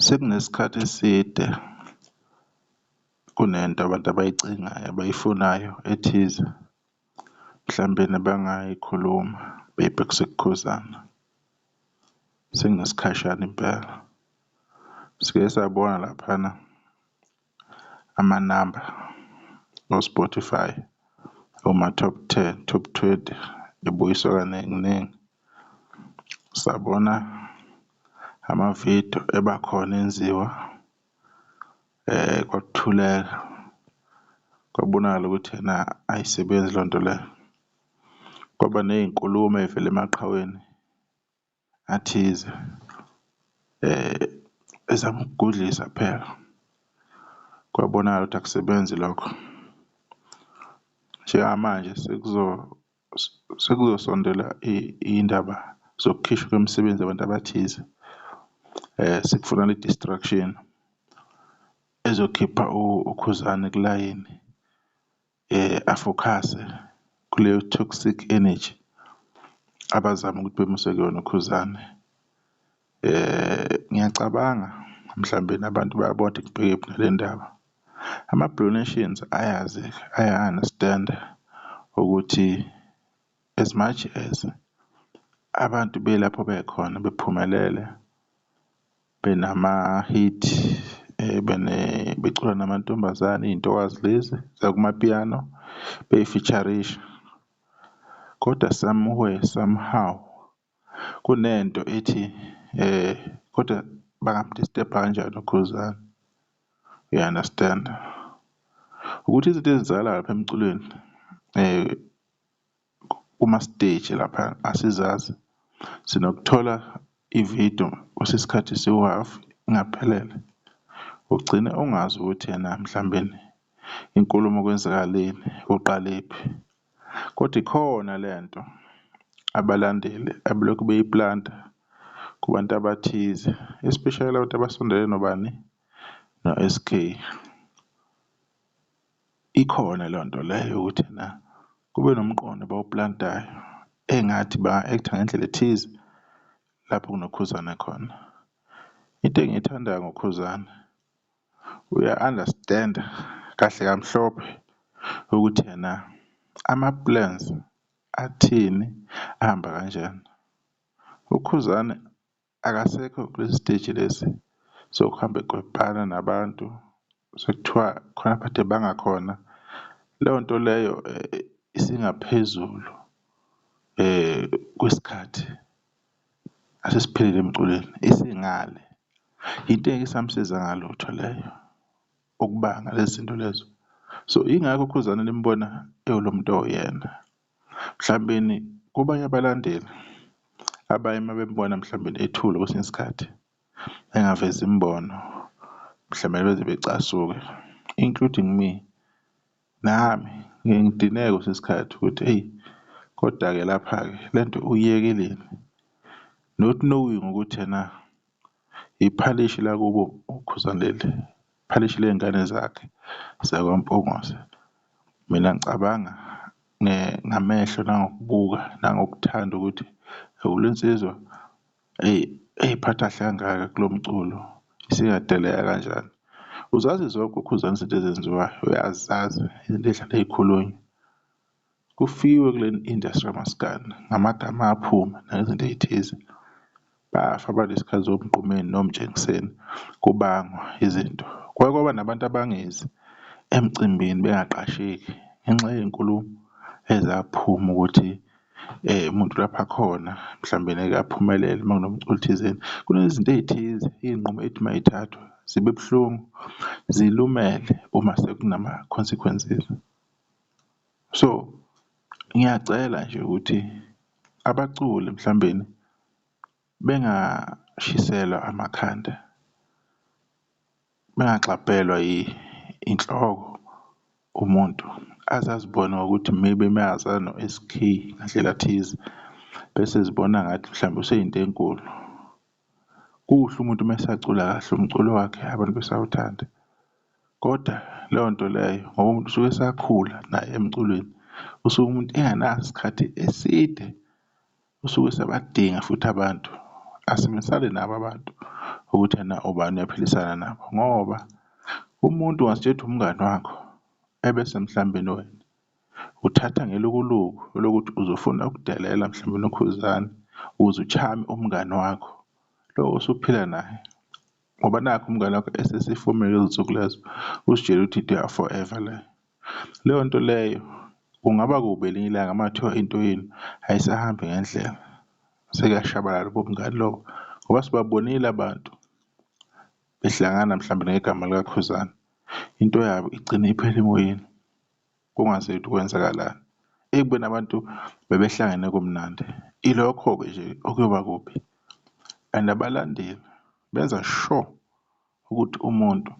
Sekunesikhathi eside kunento abantu abayicingayo abayifunayo ethize, mhlampe nabangayikhuluma maybe kusekukhuzani singesikhashana impela. Sike sabona laphana. amanamba o-Spotify kuma-top ten, top twenty ebuyiswa kaningi ningi. Sabona amavidiyo eba khona enziwa kwakuthuleka, kwabonakala ukuthi ena ayisebenzi le nto le. Kwaba ney'nkulumo ey'vela emaqhaweni. athize ezama ukugudlisa phela kwabonakala ukuthi akusebenzi lokho. Njengamanje sekuzosondela iy'ndaba zokukhishwa kwemisebenzi yabantu abathize, sekufuna le-distraction ezokhipha uKhuzani kulayini afokhase kuleyo toxic energy abazama ukuthi bemuse kuyona uKhuzani. Ngiyacabanga mhlambe nabantu bayabona ukuthi kubheke kuphi nale ndaba. Ama-Blue Nations ayazi aya-understand-a ukuthi as much as abantu belapho bekhona bephumelele, Benama-hit becula namantombazane, iy'ntokazi lezi zakumapiano bey'fisharisha. Kodwa somewhere, somehow kunento ethi kodwa bangamdistebha kanjani uKhuzani, you understand? Ukuthi izinto ezenzakalayo lapha emculweni . kuma stage lapha asizazi sinokuthola i video kusesikhathi siwu half ingaphelele ugcine ungazi ukuthi ena mhlambeni inkulumo kwenzakaleni kuqalephi kodwa ikhona lento abalandeli abelokhu beyiplanta kubantu abathize especially abantu abasondele nobani no-SK. Ikhona leyo nto leyo yokuthi ena kube nomqondo abawuplantayo engathi ba-act-a ngendlela ethize lapho kunoKhuzani khona. Into engiyithandayo ngoKhuzani uya-understand-a kahle kamhlophe ukuthi ena ama-plans athini, ahamba kanjani. UKhuzani Akasekho kulesi siteji lesi sokuhamba ekwebhana nabantu sekuthiwa khona abade banga khona. Leyo nto leyo isingaphezulu kwesikhathi asesiphilile emculweni, isingale. Yinto engeke isamsiza ngalutho leyo, ukubanga lezi zinto lezo. So, yingakho uKhuzani nimbona ewulo muntu owuyena. Mhlawumbeni kubanye abalandeli abaye uma bembona mhlawumbeni ethule kwesinye isikhathi engavezi imibono mhlawumbe beze becasuke including me, nami ngiye ngidineke kwesinye isikhathi ukuthi eyi koda-ke lapha-ke lento uyiyekeleni not knowing ukuthi ena. Iphalishi lakubo uKhuzani leli, iphalishi ley'ngane zakhe zakwaMpungose. Mina ngicabanga ngamehlo nangokubuka nangokuthanda ukuthi le nsizwa eyi ey'phatha kahle kangaka kulo mculo isingadeleka kanjani. Uzazi zonke uKhuzani izinto ezenziwayo uyazazi ey'khulunywa. Kufiwe kule industry yamaskandi ngamagama aphuma nangezinto ey'thize. Bafa abantu ngesikhathi zoMgqumeni noMtshengiseni kubangwa izinto. Kwake kwaba nabantu abangezi emcimbini bengaqasheki ngenxa yey'nkulumo ezaphuma ukuthi umuntu lapha akhona mhlawumbeni eke aphumelele uma kunomculi thizeni. Kunezinto ey'thize iy'nqumo ey'thi uma y'thathwa zibe buhlungu zilumele uma sekunama-consequences. So ngiyacela nje ukuthi abaculi mhlawumbeni bengashiselwa amakhanda, bengagxabhelwa inhloko umuntu aze azibone ngokuthi maybe mayeza no-S_K ngandlela thize bese ezibona ngathi mhlawumbe useyinto enkulu. Kuhle umuntu uma esacula kahle umculo wakhe abantu besawuthanda, koda leyo nto leyo ngoba umuntu usuke esakhula naye emculweni, usuke umuntu enganaso isikhathi eside, usuke esabadinga futhi abantu. Asebenzisane nabo abantu ukuthi yena ubani uyaphilisana nabo ngoba umuntu ungasitshela ukuthi umngani wakho ebese emhlambeni wena. Uthatha ngelukuluku lokuthi uzofuna ukudelela mhlawumbe unokhuzane ukuze uchame umngani wakho lo osuphila naye ngoba nakho umngani wakho esesifomile lezi nsuku lezo usitshela ukuthi into ya forever le leyo nto leyo kungaba kubi elinye ilanga uma kuthiwa into yenu ayisahambi ngendlela sekuyashabalala ubumngani lobo ngoba sibabonile abantu behlangana mhlawumbe ngegama likakhuzani into yabo igcine iphela emoyeni. kungaziwa ukuthi kwenzakalani. Ekubeni abantu bebehlangene kumnandi, ilokho-ke nje okuyoba kubi and abalandeli benza sure ukuthi umuntu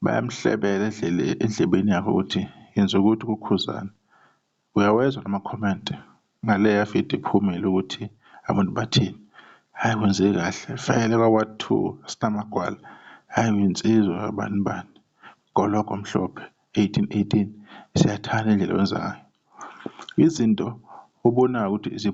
bayamhlebela endlebeni yakhe ukuthi yenza ukuthi kuKhuzani. Uyawezwa namakhomenti Ngale yafida iphumile ukuthi abantu bathini. Hhayi kwenzeke kahle vele kwa ward two asinamagwala hhayi uyinsizwa kabani bani gologo mhlophe 1818 siyathanda indlela owenza ngayo izinto obonayo ukuthi zi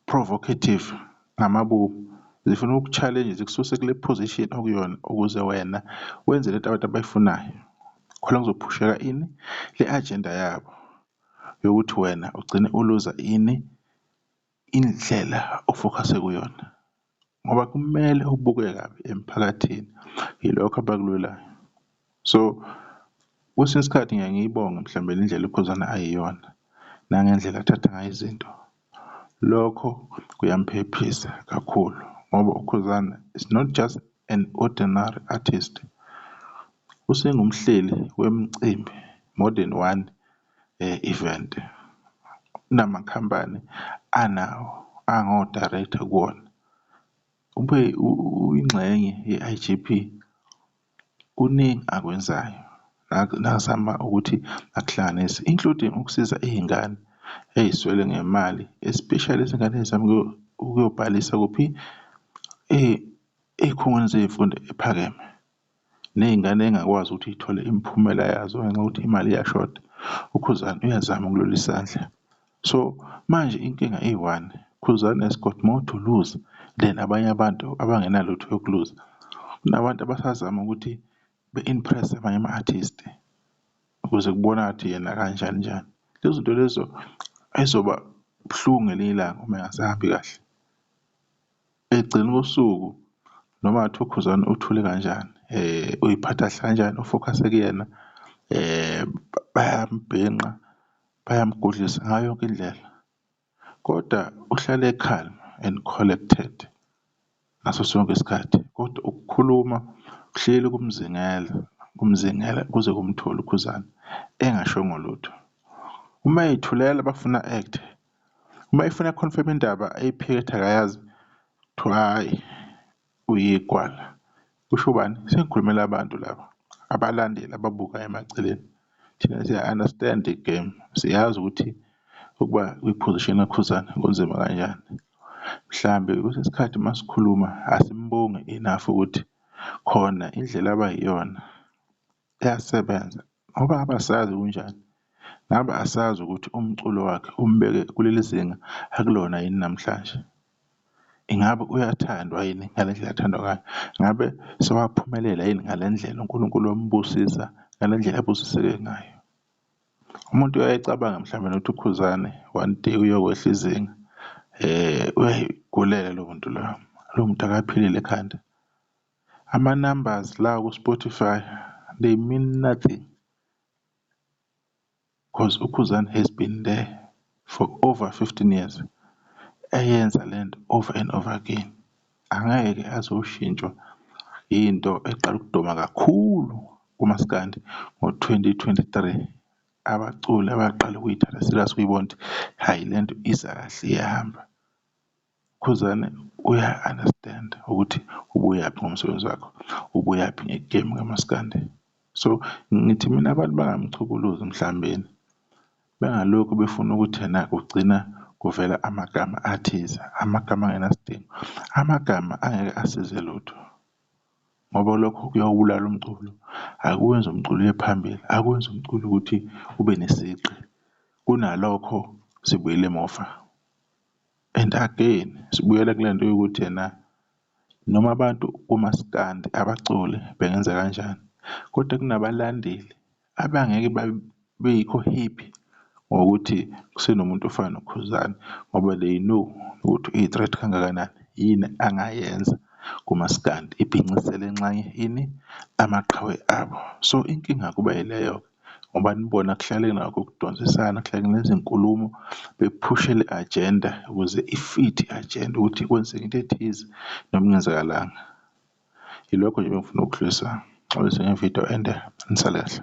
provocative ngamabomu zifuna uku challenge zikususe kule position okuyona ukuze wena wenze lento abantu abayifunayo khona kuzophusheka ini le agenda yabo yokuthi wena ugcine uluza ini indlela ofokhase kuyona ngoba kumele ubuke kabi emphakathini ilokho abakulwelayo. So, kwesinye isikhathi ngiye ngiyibonge mhlawumbe le ndlela uKhuzani ayiyona nangendlela athatha ngayo izinto Lokho kuyamphephisa kakhulu ngoba uKhuzani is not just an ordinary artist, usengumhleli wemicimbi more than one event. Unamakhampani anawo ango-director kuwona, ube uyingxenye ye-I_G_P. Kuningi akwenzayo nakazama ukuthi akuhlanganise including ukusiza iy'ngane ey'swele ngemali especially izingane ey'zama ukuyobhalisa kuphi? Ey'khungweni zey'mfundo ephakeme ney'ngane ey'ngakwazi ukuthi y'thole imiphumela yazo ngenxa yokuthi imali iyashoda. UKhuzani uyazama ukulula isandla. So manje inkinga iyi one, Khuzani has got more to lose than abanye abantu abangenalutho yokuluza. Kunabantu abasazama ukuthi be-impress abanye ama-artist ukuze kubona ukuthi yena kanjani njani. Lezo zinto lezo ay'zoba buhlungu ngelinye ilanga uma engasahambi kahle. Ekugcineni kosuku noma kungathiwa uKhuzani uthule kanjani, uy'phatha kahle kanjani, u-focus-e kuyena bayamubhinqa. Bayamgudlisa ngayo yonke indlela kodwa uhlale e-calm and collected ngaso sonke isikhathi kodwa ukukhuluma uhleli kumzingela, kumzingela kuze kumthole uKhuzani engashongo lutho. Uma ethulela bafuna act. Uma efuna confirm indaba ayiphikethe akayazi kuthiwa hhayi Uyigwala. Kusho ubani? Sengikhulumela abantu laba. Abalandeli ababuka emaceleni. Thina siya understand the game. Siyazi ukuthi ukuba kwi-position kaKhuzani kunzima kanjani. Mhlambe kwesinye isikhathi masikhuluma asimbongi enough ukuthi khona indlela abayiyona. Uyasebenza ngoba ngabe asazi kunjani, ngabe asazi ukuthi umculo wakhe umbeke kuleli zinga akulona yini namhlanje. Ingabe uyathandwa yini ngale ndlela athandwa ngayo? Ngabe sewaphumelela yini ngale ndlela uNkulunkulu wambusisa ngale ndlela abusiseke ngayo? Umuntu uyaye acabange mhlawumbe nokuthi uKhuzane one day uyokwehla izinga uyayigulela lowo muntu loyo, lowo muntu akaphilile ekhanda. Ama numbers la ku Spotify they mean nothing coz uKhuzani has been there for over 15 years eyenza lento over and over again. Angeke aze oshintshwa into eqala ukuduma kakhulu kumaskandi ngo 2023. Abaculi abaqala ukuyithatha serious ukuyibona ukuthi hhayi lento iza kahle iyahamba. Khuzani uya understand ukuthi ubuyaphi ngomsebenzi wakho, ubuyaphi ngegemu kamaskandi. So ngithi mina abantu bangamchukuluzi emhlambeni bengalokhu befuna ukuthi ena kugcina kuvela amagama athize, amagama angenasidingo, amagama angeke asize lutho ngoba lokho kuyawubulala umculo. Akuwenzi umculo uye phambili, akwenzi umculo ukuthi ube nesigqi kunalokho sibuyela emuva. And again sibuyela kule nto yokuthi ena noma abantu komaskandi abaculi bengenza kanjani kodwa kunabalandeli abangeke beyikho happy ngokuthi kusenomuntu ofana noKhuzani ngoba they know ukuthi uyi-threat kangakanani. Yini angayenza kumaskandi ibhincisele nxanye ini? Amaqhawe abo. So inkinga kuba yileyo-ke. ngoba nibona kuhlale nakho ukudonsisana kuhlale kunezinkulumo bephushe le agenda ukuze i-fit i-agenda ukuthi kwenzeka into ethize noma kungenzakalanga. Ilokho nje bengifuna ukudlulisa ngixolise ngevidiyo ende nisale kahle.